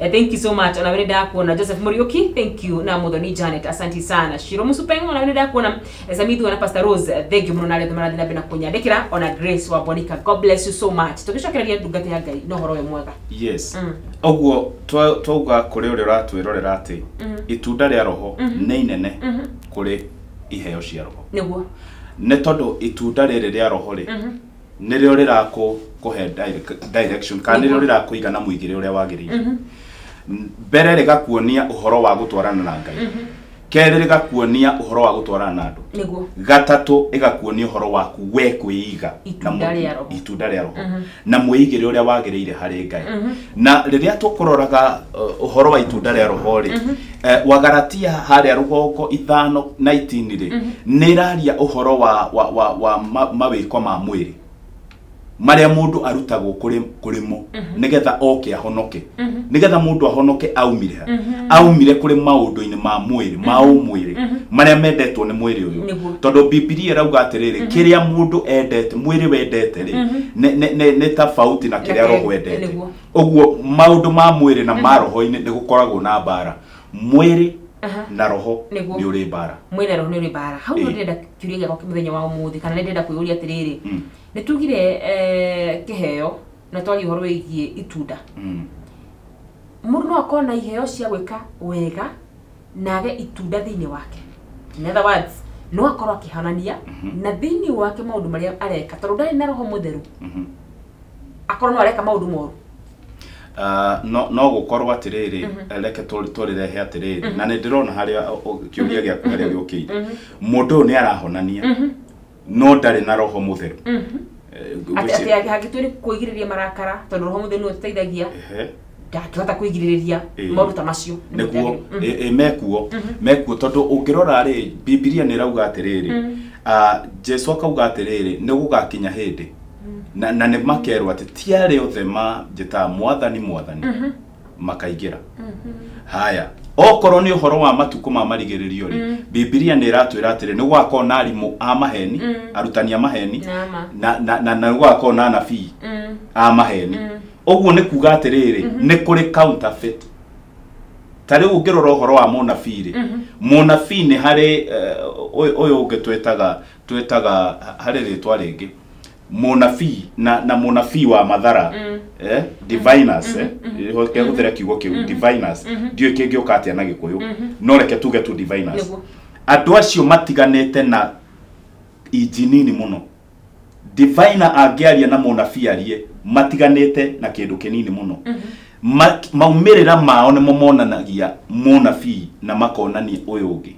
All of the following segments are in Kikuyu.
Eh, thank you so much ona vene ndakuona joseph muriuki thank you na muthoni janet asanti sana shiro musupeng ona vene ndakuona Eh, samithu ona pastor rose eh, thank you muno nale thomana thina bena kunyandikira ona grace wa bonika god bless you so much tugicokereria ndungata ya ngai no horo we mwega yes Mm. ũguo twa- twauga kũrĩ ũrĩa ũratwĩrorera atĩ Mhm. itunda rĩa roho Mhm. nĩ inene Mhm. kũrĩ iheo cia roho niguo nĩ tondũ itunda rĩrĩ rĩa roho rĩ Mhm. nĩrĩo rĩrakũ kũhe direc- direction kana nĩrĩo rĩrakũiga na mũigĩre ũrĩa wagĩrĩire N- mbere rĩgakuonia ũhoro wa gũtwarana na ngai kerĩ rĩgakuonia ũhoro wa gũtwarana na andũ nĩguo gatatũ ĩgakuonia ũhoro waku we kwĩiga Itunda na mũ- rĩa roho. itunda rĩa roho na mwĩigĩre ũrĩa wagĩrĩire harĩ ngai na rĩrĩa tũkũroraga uh, ũhoro wa itunda rĩa roho rĩ Eh, wagaratia harĩa rũgongo ithano na itini rĩ nĩ ĩraria ũhoro wa, wa, wa, wa ma, mawĩko ma mwĩrĩ marĩa mũndũ arutagwo kũrĩ kũrĩmo nĩgetha oke ahonoke nĩgetha mũndũ ahonoke aumire ha? aumire kũrĩ maũndũ-inĩ ma mwĩrĩ ma ũmwĩrĩ marĩa mendetwo nĩ mwĩrĩ ũyũ Nĩguo. tondũ bibilia ĩrauga atĩrĩrĩ kĩrĩa mũndũ endete mwĩrĩ wendete rĩ nĩ- nĩ- nĩ nĩ tofauti na kĩrĩa roho endete Nĩguo. ũguo maũndũ ma mwĩrĩ na ma roho-inĩ nĩ gũkoragwo na mbara mwĩrĩ Aha. na roho Nĩguo. nĩ ũrĩ mbara mwĩrĩ na roho nĩ ũrĩ mbara hau nĩ Ĩĩ. ndĩrenda kĩũria gĩakwa kĩa mũthenya wa ũmũthĩ kana nĩ ndĩrenda kwĩyũria atĩrĩrĩ Mm, nĩ tugire eh, kĩheo na twaria ũhoro wĩgiĩ itunda mm. mũndũ no akorwo na iheo cia gwĩka wega na age itunda thĩinĩ wake in other words no akorwo akĩhanania Mhm. na thĩinĩ wake maũndũ marĩa areka tondũ ndarĩ na roho mũtheru Mhm. akorwo no areka maũndũ moru Ah, no no gũkorwo atĩrĩrĩ Mhm. reke tũ- tũrĩrehe atĩrĩrĩ na nĩ ndĩrona harĩa ũ- ũ- kĩũria gĩaku harĩa gĩũkĩire mũndũ ũyũ nĩ arahonania Mhm. no ndarĩ na roho mũtheru Mhm. Eh, Atĩ- gwĩci- atĩ atĩ hangĩtua nĩ kwĩgirĩrĩria marakara tondũ roho mũtheru nĩ ũteithagia Ehe. ndangĩhota kwĩgirĩrĩria Ĩĩ. maũndũ ta macio Nĩ nĩkuo mũteagĩrĩru. Mhm. ĩ- ĩ, mekuo mekuo tondũ ũngĩrora rĩ bibilia nĩ ĩrauga atĩrĩrĩ Mm. ah, jesu akauga atĩrĩrĩ nĩ gũgakinya hĩndĩ na, na nĩ makerwo atĩ ti arĩa othe manjĩtaga mwathani mwathani makaingĩra haya okorwo nĩ ũhoro wa matukũ ma marigĩrĩrio rĩ Mm. bibilia nĩ ĩratwĩra atĩrĩ nĩ gũgakorwo na arimũ a maheni Mm. arutani a maheni Nama. na na- na na nĩ gũgakorwo na anabii Mm. a maheni Mm. ũguo nĩ kuga atĩrĩrĩ Mhm. nĩ kũrĩ counterfeit ta rĩu ũngĩrora ũhoro wa mũnabii rĩ Mhm. mũnabii nĩ harĩ eh, ũyũ ũyũ ũngĩ twetaga twetaga harĩ rĩtwa rĩngĩ mũnabii na na mũnabii wa mathara Mm. eh, diviners eh, hoke hũthĩre kiugo kĩu diviners ndiũĩ kĩngĩ ũka atĩa na gĩkũyũ no reke tuge tu diviners Nĩguo. andũ acio matiganĩte na inji nini mũno divina angĩaria na mũnabii arie matiganĩte na kĩndũ kĩnini mũno Ma- maumĩrĩra mao nĩmo monanagia mũnabii na makonania ũyũ ũngĩ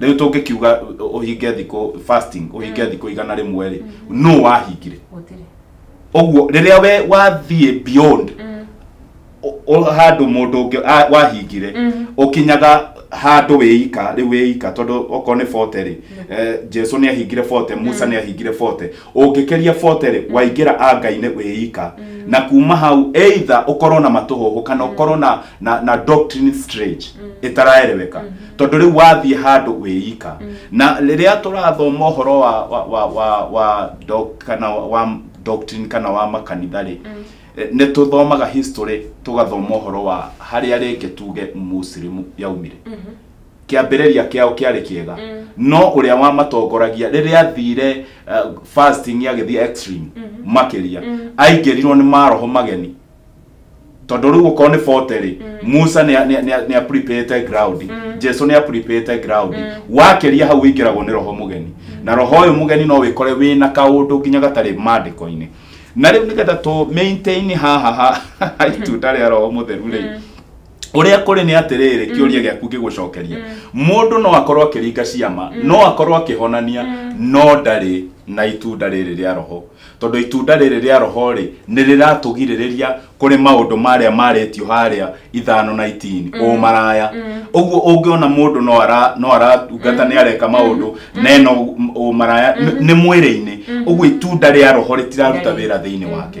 rĩu tũngĩkiuga ũ- ũhinge thikũ fasting ũhinge thikũ igana rĩmwe rĩ nũ wahingire gũtirĩ ũguo rĩrĩa we wathiĩ beyond ũ- ũ- handũ mũndũ ũngĩ a- wahingire ũkinyaga handũ wĩika rĩu wĩika tondũ okorwo nĩ bote rĩ eh, jesu nĩ ahingire bote musa nĩ ahingire bote ũngĩkeria boterĩ waingĩra anga-inĩ wĩika na kuma hau either ũkorwo na matũhũhũ kana ũkorwo na, na, na doctrine strange ĩtaraereweka tondũ rĩu wathiĩ handũ wĩika na rĩrĩa tũrathoma ũhoro wa, wa, wa, wa, wa, doc, kana wa, wa doctrine kana wa makanitha rĩ eh, nĩ tũthomaga history tũgathoma ũhoro wa harĩa rĩngĩ tuge musilimu yaumire kĩambĩrĩria kĩao kĩarĩ kĩega no ũrĩa wamatongoragia rĩrĩa athire uh, fasting agĩthiĩ extreme makĩria aingĩrirwo nĩ maroho mageni tondå rä u okorwo nä bote rä musa nä apripate ground jesu nä apripate ground wakĩria hau ingĩragwo nĩ roho mũgeni na roho ũyũ mũgeni no wĩkore wĩ na kaũndũ nginya gatarĩ mandĩko-inĩ na rĩu nĩgetha tũ maintain haha ha- ha itunda rĩa roho mũtheru rĩ ũrĩa kũrĩ nĩ atĩrĩrĩ kĩũria gĩaku ngĩgũcokeria mũndũ no akorwo akĩringa ciama no akorwo akĩhonania no ndarĩ na itunda rĩrĩ rĩa roho tondũ itunda rĩrĩ rĩa roho rĩ nĩ rĩratũgirĩrĩria kũrĩ maũndũ marĩa marĩtio harĩa ithano na itini ũmaraya ũguo ũngĩona mũndũ no ara- no aratungata nĩ areka maũndũ na ena ũ- ũmaraya nĩ- nĩ mwĩrĩ-inĩ ũguo itunda rĩa roho rĩtiraruta Ngai. wĩra thĩinĩ wake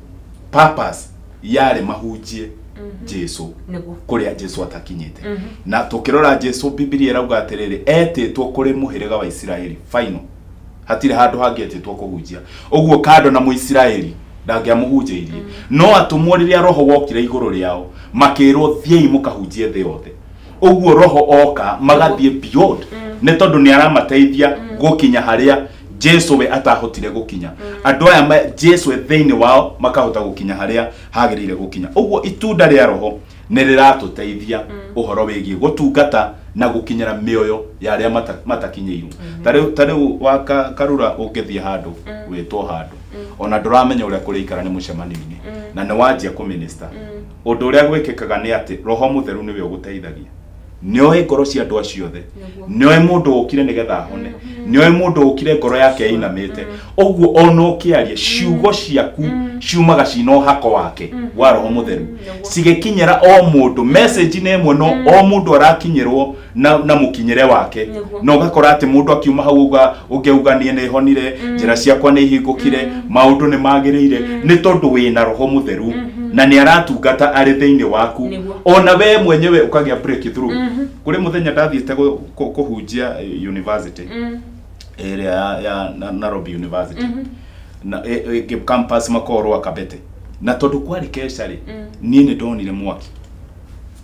purpose yarĩ mahunjie jesu Nĩguo. kũrĩa jesu atakinyĩte na tũkĩrora jesu bibilia ĩrauga atĩrĩrĩ etĩtwo kũrĩ mũhĩrĩga wa isiraeli final hatirĩ handũ hangĩ etĩtwo kũhunjia ũguo kando na mũisiraeli ndangĩamũhunjĩirie no atũmwo rĩrĩa roho wokire igũrũ rĩao makĩrwo thiĩi mũkahunjie thĩ yothe ũguo roho oka magathiĩ beyond nĩ tondũ nĩ aramateithia gũkinya harĩa jesu we atahotire gũkinya andũ aya ma- jesu we thĩinĩ wao makahota gũkinya harĩa hagĩrĩire gũkinya ũguo itunda rĩa roho nĩ rĩratũteithia ũhoro wĩgiĩ gũtungata na gũkinyĩra mĩoyo ya arĩa mata- matakinyĩirwo Ta rĩu- ta rĩu wa ka- karura ũngĩthiĩ handũ wĩtwo handũ ona ndũramenya ũrĩa kũrĩikara nĩ mũcemanio-inĩ na nĩ wanjia kũminista ũndũ ũrĩa gwĩkĩkaga nĩ atĩ roho mũtheru nĩwe ũgũteithagia nĩoĩ ngoro cia andũ acio othe Nĩguo. nĩoĩ mũndũ ũkire nĩgetha ahone nĩoĩ mũndũ ũkire ngoro yake ĩinamĩte ũguo ona ũkĩaria ciugo ciaku ciumaga cina ũhako wake wa roho mũtheru cigĩkinyĩra o mũndũ message nĩ ĩmwe no o mũndũ arakinyĩrwo na, na mũkinyĩre wake Nĩguo. na ũgakora atĩ mũndũ akiuma hau uga ũngĩauga niĩ nĩ honire njĩra ciakwa nĩ ihingũkire maũndũ nĩ magĩrĩire nĩ tondũ wĩ na roho mũtheru na nĩ aratungata arĩ thĩinĩ waku Nĩguo. ona we mwenyewe ũkagĩa breakthrough kũrĩ mũthenya ndathiĩte gũ- kũ- kũhunjia eh, university ĩrĩa ya, ya Na- Nairobi University na e, e, ke- campus makorwo akabete na tondũ kwarĩ kesha rĩ niĩ nĩ ndonire mwaki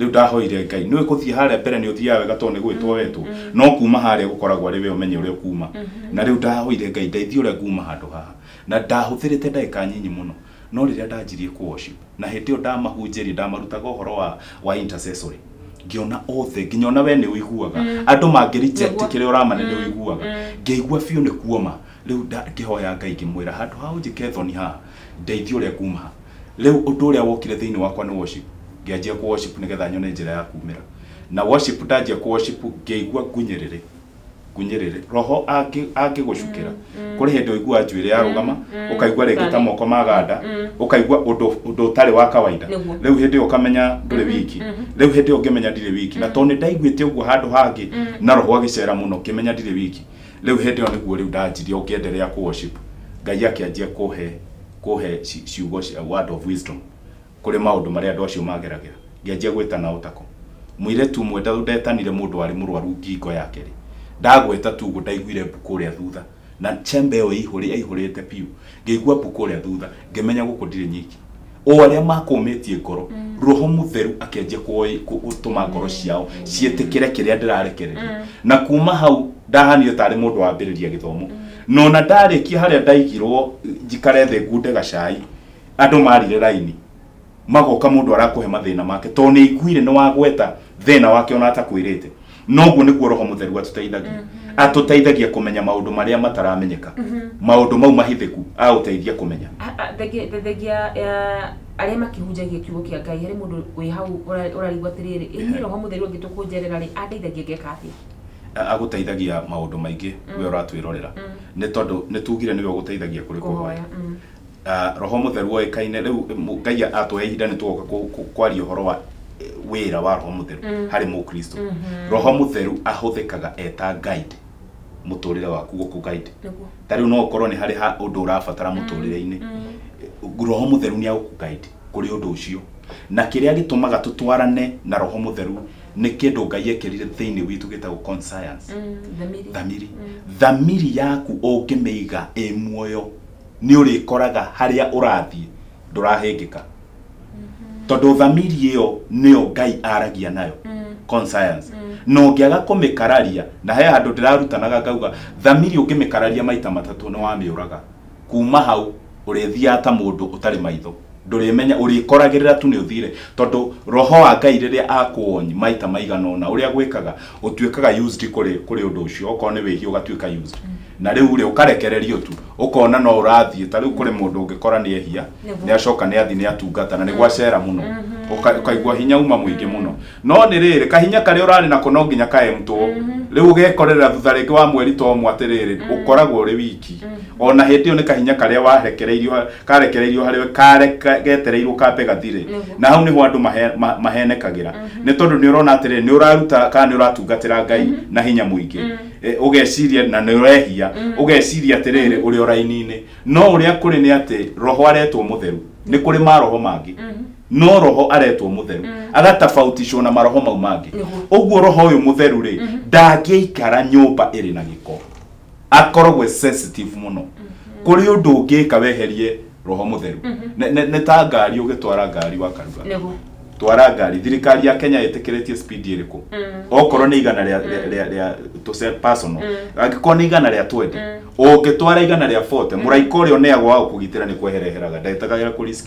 Rĩu ndahoire Ngai, nĩũĩ gũthiĩ harĩa mbere nĩ ũthiaga wega tondũ nĩ gwĩtwo wetwo, no kuuma harĩa gũkoragwo arĩ we ũmenye ũrĩa ũkuuma. Na rĩu ndahoire Ngai, ndeithia ũrĩa nguuma handũ haha. Na ndahũthĩrĩte ndagĩka nyinyi mũno, no rĩrĩa ndanjirie kũ worship, na hĩndĩ ĩyo ndamahunjĩria, ndamarutaga ũhoro wa, wa intercessory, ngĩona othe, nginya ona we nĩ ũiguaga. Andũ mangĩ reject Nĩguo. kĩrĩa ũramane nĩ ũiguaga. Ngĩigua biũ nĩ kuoma. Rĩu nda, ngĩhoya Ngai ngĩmwĩra, handũ ha ũnjĩke thoni haha, Ndeithia ũrĩa nguma ha. Rĩu ũndũ ũrĩa wokire thĩinĩ wakwa nĩ worship. Ngĩanjia kũ worship nĩgetha nyone njĩra ya kumĩra. Na worship ndanjia kũ worship ngĩigua ngunyĩrĩrĩ. Ngunyĩrĩrĩ. Roho angĩ angĩgũcukĩra. Kũrĩ hĩndĩ ũiguaga njuĩrĩ yarũgama, ũkaigua rĩngĩ ta moko maganda, ũkaigua ũndũ ũndũ ũtarĩ wa kawaida. Nĩguo. Rĩu hĩndĩ ĩyo ũkamenya ndũrĩ wiki. Rĩu hĩndĩ ĩyo ngĩmenya ndirĩ wiki. Na tondũ nĩndaiguĩte ũguo handũ hangĩ, na roho agĩcera mũno ngĩmenya ndirĩ wiki. Rĩu hĩndĩ ĩyo nĩguo rĩu ndanjirie ũngĩenderea kũ worship Ngai akĩanjia kũhe kũhe ci- ciugo cia word of wisdom kũrĩ maũndũ marĩa andũ acio mageragĩra ngĩanjia gwĩtana o tako mũirĩtu ũmwe nda- ndetanire mũndũ warĩ mũrwaru ngingo yake rĩ ndagweta tu ũguo ndaiguire mbu kũrĩa thutha na chamber ĩyo ĩihũrĩ yaihũrĩte biũ ngĩigua mbu kũrĩa thutha ngĩmenya gũkũ ndirĩ nyiki o arĩa makũmĩtie ngoro roho mũtheru akĩanjia kuoi- ku- gũtũma ngoro ciao ciĩtĩkĩre kĩrĩa ndĩrarekereria na kuma hau ndahanire tarĩ mũndũ wambĩrĩria gĩthomo nona ndarĩkia harĩa ndaigirwo njikare thĩ ngunde gacai andũ marire raini magoka mũndũ arakũhe mathĩna make tondũ nĩ aiguire nĩ wagweta thĩna wake ona atakwĩrĩte noguo nĩguo roho mũtheru atũteithagia mm -hmm. atũteithagia kũmenya maũndũ marĩa mataramenyeka mm -hmm. maũndũ mau mahithĩku aũteithia kũmenya thengia arĩa makĩhunjagia kiugo kĩa ngai harĩ mũndũ wĩ hau ũrarigwo atĩrĩrĩ ĩni roho mũtheru angĩtũkũnjerera rĩ andeithagia ngeka atĩa agũteithagia maũndũ maingĩ mm. we ũratwĩrorera mm. nĩ tondũ nĩ tugire nĩwe ũgũteithagia kũrĩ kũhoya mm. Ah, roho mũtheru oĩkaine rĩu mũ- ngai atũhe ihinda nĩ tũgoka kũ- kũ- kwaria ũhoro wa eh, wĩra wa roho mũtheru Mm. harĩ mũkristo Mhm. roho mũtheru ahũthĩkaga eta guide mũtũrĩre waku gũkũ guide Nĩguo. ta rĩu no ũkorwo nĩ harĩ ha ũndũ ũrabatara mũtũrĩre-inĩ Mm. roho mũtheru nĩ agũkugaidi kũrĩ ũndũ ũcio na kĩrĩa gĩtũmaga tũtwarane na roho mũtheru nĩ kĩndũ ngai ekĩrire thĩinĩ witũ gĩtagwo conscience Mm. Thamiri. thamiri Mm. thamiri yaku ũngĩmĩiga ĩ muoyo nĩ ũrĩkoraga harĩa ũrathiĩ ndũrahĩngĩka tondũ thamiri ĩyo nĩyo ngai aragia nayo conscience na ũngĩaga kũmĩkararia na he handũ ndĩrarutanaga ngauga thamiri ũngĩmĩkararia maita matatũ nĩ wamĩũraga kuma hau ũrĩthiaga ta mũndũ ũtarĩ maitho ndũrĩmenya ũrĩkoragĩrĩra tu nĩ ũthire tondũ roho wa ngai rĩrĩa akuonyi maita maigana ũna ũrĩa gwĩkaga ũtuĩkaga used kũrĩ kũrĩ ũndũ ũcio okorwo nĩ wĩhia ũgatuĩka used na rĩu rĩ ũkarekererio tu ũkona no ũrathiĩ ta rĩu kũrĩ mũndũ ũngĩkora nĩ ehia nĩ acoka nĩ athiĩ nĩ atungata na nĩ gwacera mũno Ũka- ũkaigua hinya uma mũingĩ mũno no nĩ rĩrĩ kahinya karĩa ũrarĩ nako no nginya kaemtwo rĩu ũgekorera thutha rĩngĩ wa mweri ta ũmwe atĩrĩrĩ ũkoragwo ũrĩ wiki ona hĩndĩ ĩyo nĩ kahinya karĩa warekereirio ha- karekereirio harĩ we kare ka- getereirwo kambe gathire Nĩguo. na hau nĩho andũ mahe- ma- mahenekagĩra nĩ tondũ nĩ ũrona atĩrĩrĩ nĩ ũraruta kana nĩ ũratungatĩra ngai na hinya mũingĩ Eh, ũgeciria na nĩ ũrehia ũgeciria atĩrĩrĩ ũrĩ o raini-inĩ no ũrĩa kũrĩ nĩ atĩ roho aretwo mũtheru nĩ kũrĩ maroho mangĩ no roho aretwo må theru agatabautishwo na maroho mau mangä å guo roho å yå må theru rä ndangä ikara nyå mba ä rä na gä ko akoragwo sensitive må no kå rä å ndå å ngä ka weherie roho må theru Nĩ- nĩ nĩ ta ngari å gä twara ngari wakaruga nĩguo twara ngari thirikari ya kenya ĩtĩkĩrĩtie speed ĩrĩkũ okorwo nĩ igana rĩa rĩa- rĩa rĩa tũce personal angĩkorwo nĩ igana rĩa 20 ũngĩtwara igana rĩa 40 mũraika ũrĩa ũneagwo wa gũkũgitĩra nĩ kwehereheraga ndagĩtagagĩra kũ risk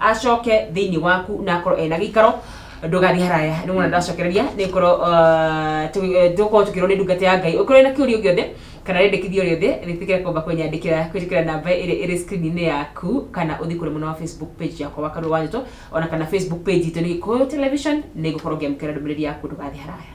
acoke thĩinĩ waku na akorwo ena gĩikaro ndũgathiĩ haraya nĩ mwana ndacokereria nĩ korwo tũkorwo tũkĩrwo nĩ ndungata ya ngai ũkorwo na kĩũria gĩothe kana rĩndĩkithia rĩothe rĩtikĩra kwamba kũnyandĩkĩra kwĩrĩkĩra namba ĩrĩa ĩrĩ screen-inĩ yaku kana ũthiĩ kũrĩ mwena wa facebook page yakwa wa karũa wanjĩtwo ona kana facebook page itũ nĩ gĩkũyũ television nĩ ngũkorwo ngĩamũkĩra ndũmĩrĩri yaku ndũgathiĩ haraya